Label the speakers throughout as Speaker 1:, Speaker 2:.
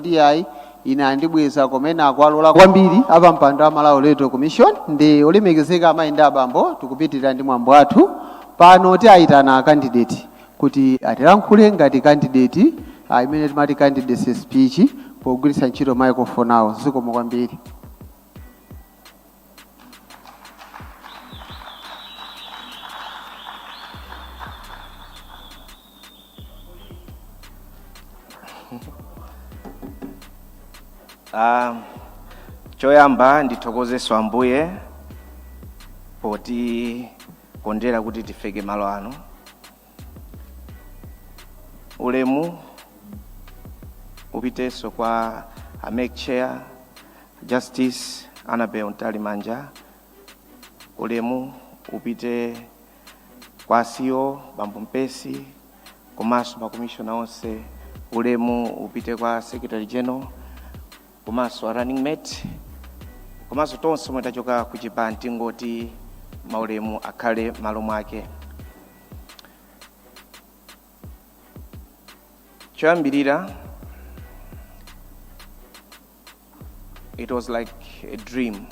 Speaker 1: kuti yayi ine anandibweza koma ena akuwalola kwambiri apampando a malawi electoral commission ndi olemekezeka amayi ndi abambo tikupitirira ndi mwambo wathu pano tiayitana a candidate kuti atilankhule ngati candidate ah, imene timati candidacy speech pogwiritsa ntchito microphone awo zikomo kwambiri
Speaker 2: Ah, choyamba ndithokozeso ambuye potikondera kuti tifike malo ano ulemu upiteso kwa a MEC chair justice annabel mtalimanja ulemu upite kwa ceo bambo mpesi komanso makomishona onse ulemu upite kwa secretary general komanso a running mate komanso tonse omwe tachoka ku chipani tingoti maulemu akhale malo mwake choyambirira it was like a dream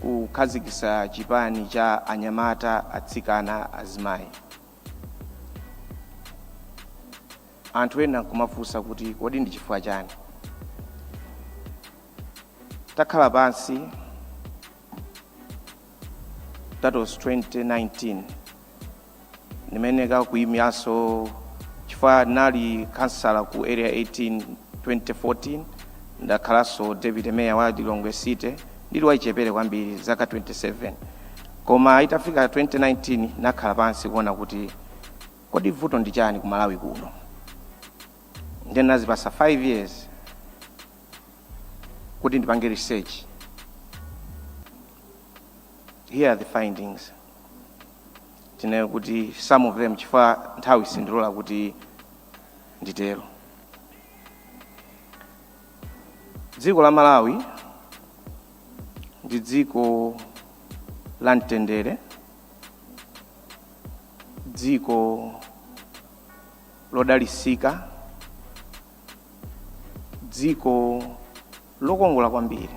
Speaker 2: kukhazikisa chipani cha anyamata atsikana azimayi anthu ena nkumafunsa kuti kodi ndi chifukwa chani takhala pansi that was 2019 ndimanakayimiranso chifukwa nali kansala ku area 18 2014 ndakhalanso deputy mayor wa lilongwe city Ndili wachichepere kwambiri, zaka 27, koma itafika 2019 nakhala pansi kuona kuti kodi vuto ndi chani ku Malawi kuno. Nde nazipasa 5 years kuti ndipange research. Here are the findings. Tinene kuti some of them chifukwa nthawi sindilola kuti nditero. Dziko la Malawi ndi dziko la mtendere, dziko lodalisika, dziko lokongola kwambiri.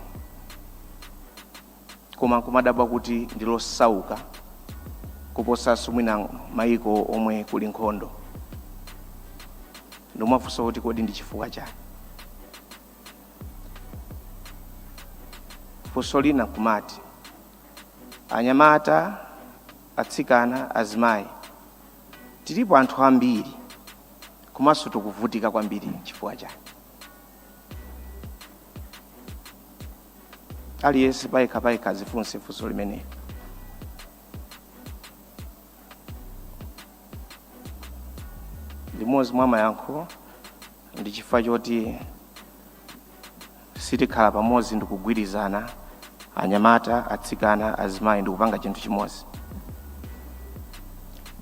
Speaker 2: koma kumadabwa kuti ndi losauka kuposa mwina mayiko omwe kuli nkhondo ndimafunsa kuti kodi ndi chifukwa chani funso lina kumati anyamata atsikana azimayi tilipo anthu ambiri komanso tikuvutika kwambiri chifukwa chani aliyense payekha payekha azifunse funso limeneli limodzi mwa mayankho ndi chifukwa choti sitikhala pamodzi ndi kugwirizana anyamata atsikana azimayi ndi kupanga chinthu chimodzi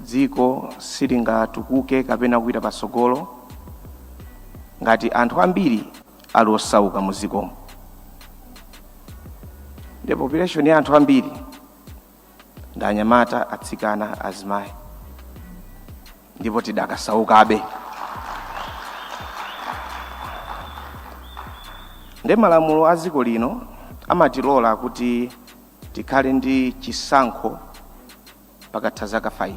Speaker 2: dziko silingatukuke kapena kupita patsogolo ngati anthu ambiri ali osauka mu dzikomo ndi population ya anthu ambiri ndi anyamata atsikana azimayi ndipo tidakasaukabe ndi malamulo a dziko lino amatilola kuti tikhale ndi chisankho pakatha zaka 5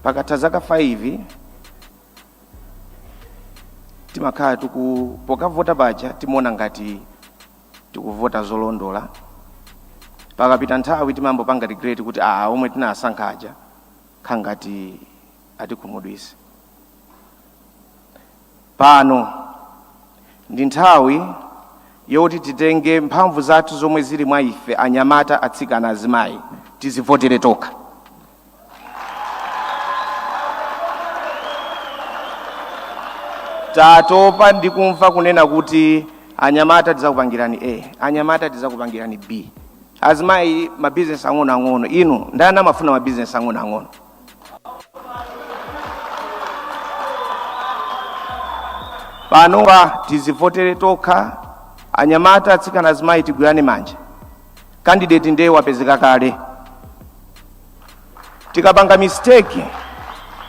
Speaker 2: pakatha zaka 5 timakhala tiku pokavota paja timaona ngati tikuvota zolondola pakapita nthawi timambopanga regret kuti aa omwe tinasankha aja khangati atikhumudwise pano ndi nthawi yoti titenge mphamvu zathu zomwe zili mwa ife anyamata atsikana azimayi tizivotere tokha tatopa ndi kumva kunena kuti anyamata tidzakupangirani a anyamata tidzakupangirani b azimayi mabizinesi ang'onoang'ono inu ndani amafuna mabizinesi ang'onoang'ono panopa tizivotere tokha anyamata atsikana azimayi tigwirane manja candidate ndiye wapezeka kale tikapanga mistake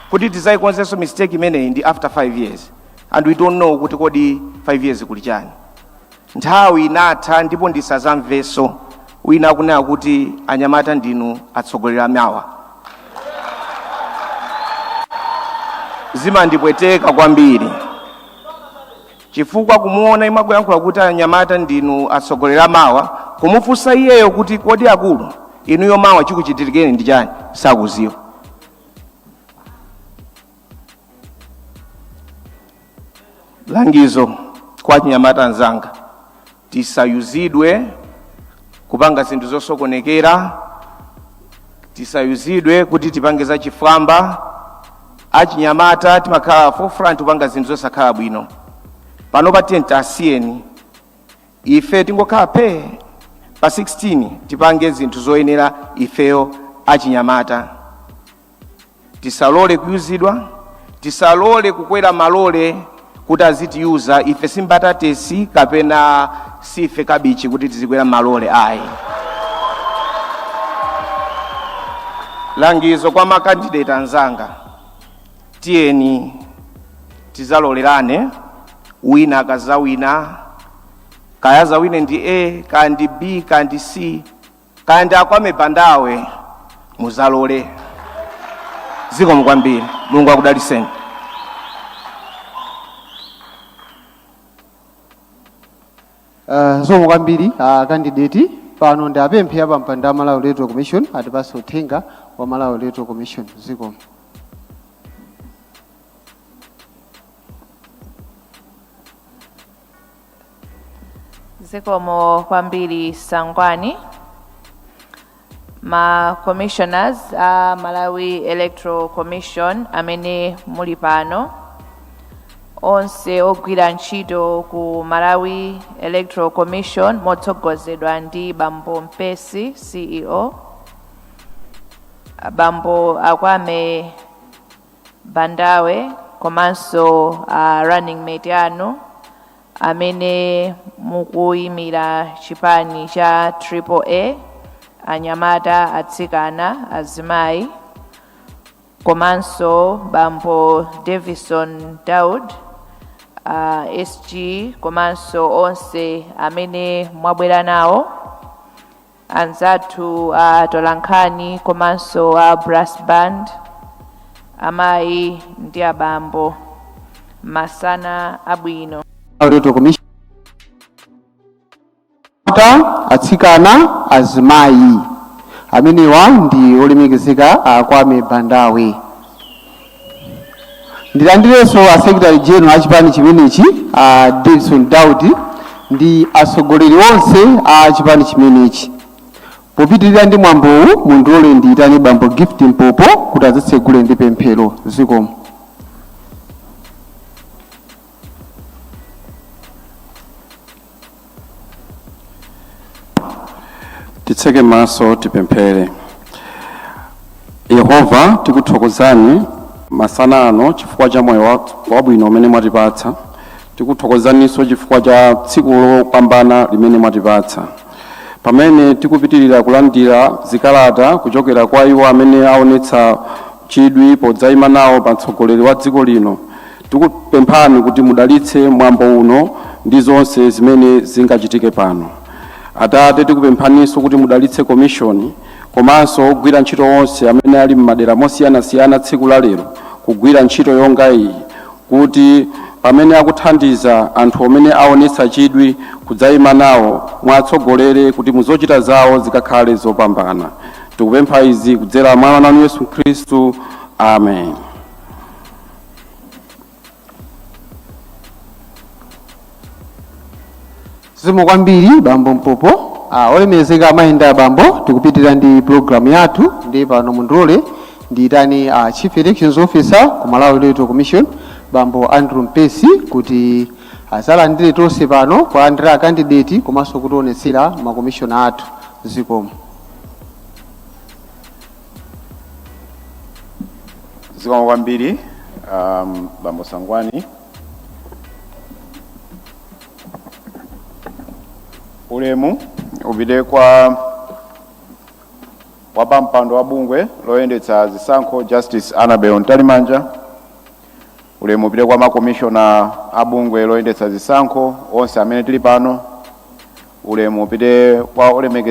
Speaker 2: kuti tizayikonzenso mistake imeneyi ndi after 5 years and we don't know kuti kodi 5 years kuli chani nthawi inatha ndipo ndisazamveso wina akunena kuti anyamata ndinu atsogoleri amawa zimandipweteka kwambiri Chifukwa kumuona yemwe akuyankhula kuti anyamata ndinu atsogoleri a mawa, kumufunsa iyeyo kuti kodi akulu inuyo mawa chikuchitirikeni ndi chani sakuziwa. Langizo kwa achinyamata anzanga. tisayuzidwe kupanga zinthu zosokonekera tisayuzidwe kuti tipange za chifwamba achinyamata timakhala forefront kupanga zinthu zosakhala bwino pano pa 10 asiyeni ife tingokhala phe pa 16 tipange zinthu zoyenera ifeyo achinyamata tisalole kuyuzidwa tisalole kukwera malole kuti azitiyuza ife simbatatesi kapena sife kabichi kuti tizikwera malole ayi langizo kwa makandideti anzanga tiyeni tizalolerane wina akazawina kaya azawine ndi a kaya ndi b kaya ndi c kaya ndi akwame bandawe muzalole zikomo kwambiri mulungu
Speaker 1: akudaliseni Zikomo kwambiri a kandideti pano ndiwapemphe apampando a malawi electoral commission atipase uthenga wa malawi electoral commission zikomo
Speaker 3: zikomo kwambiri sangwani ma commissioners a malawi electoral commission amene muli pano onse ogwira ntchito ku malawi electoral commission motsogozedwa ndi bambo mpesi ceo abambo akwame Bandawe komanso a running mate anu amene mukuyimira chipani cha Triple A, anyamata, atsikana, azimayi komanso bambo Davison Daud a SG komanso onse amene mwabwera nawo anzathu a atolankhani komanso a brass band amayi ndi abambo masana abwino
Speaker 1: Ata atsikana azimayi amenewa ndi olemekezeka a Kwame Bandawe. Ndilandirenso a secretary general achipani chimenechi a Davidson Daudi ndi atsogoleri onse a chipani chimenechi. Popitilira ndi mwambowu mundilole ndiyitane bambo Gift Mpopo kuti atitsegulire ndi pemphero zikomo.
Speaker 4: titseke maso tipemphere yehova tikuthokozani masana ano chifukwa cha moyo wabwino umene mwatipatsa tikuthokozaninso chifukwa cha tsiku lopambana limene mwatipatsa pamene tikupitirira kulandira zikalata kuchokera kwa iwo amene aonetsa chidwi podzayima nawo pa mtsogoleri wa dziko lino Tikupemphani kuti mudalitse mwambo uno ndi zonse zimene zingachitike pano. Atate, tikupemphaninso kuti mudalitse komishoni komanso ogwira ntchito onse amene ali m'madera mosiyanasiyana tsiku la lero kugwira ntchito yonga iyi kuti pamene akuthandiza anthu amene aonetsa chidwi kudzayima nawo mwatsogolera kuti muzochita zawo zikakhale zopambana. Tikupempha izi kudzera mwa mwana wanu Yesu Khristu. Amen.
Speaker 1: zikomo kwambiri bambo mpopo ah, olemekezeka amayi ndi abambo tikupitirira ndi programu yathu ndi pano mundilole ndiyitane ah, chief elections officer ku malawi electoral commission bambo andrew mpesi kuti azalandire tonse pano kulandira akandideti komanso kutionetsera makomishona athu zikomo
Speaker 5: zikomo kwambiri um, bambo sangwani ulemu upite kwa wapampando wa bungwe loyendetsa zisankho justice annabel mtalimanja ulemu upite kwa makomishona a bungwe loyendetsa zisankho onse amene tili pano ulemu upite kwa olemekeza